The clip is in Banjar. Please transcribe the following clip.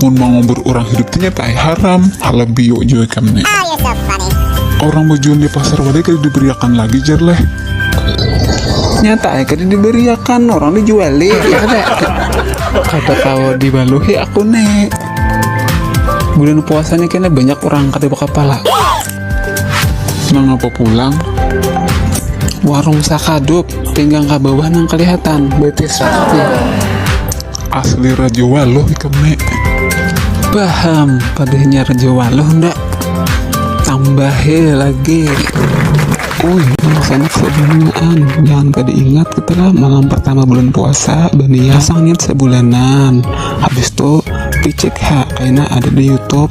Mun mangubur urang hidup tu nyata ai haram, halah biuk jua ikam ni. Urang bajual di pasar wadai kada dibariakan lagi jar leh. Nyata ai kada dibariakan, urang dijuali, ya kada? Kada kawa dibaluhi aku ni. Bulan puasa ni kena banyak urang kada bakapala. Mangapa pulang? Warung sakadup, pinggang ka bawah nang kelihatan, betis rapi. Asli Raja Waluh ikam ne. Paham, padahnya Raja Waluh ndak. Tambahe lagi. Uy, rasanya sebungaan. Jangan kada ingat kita lah malam pertama bulan puasa, bania sangit sebulanan. Habis itu picik ha, kaina ada di YouTube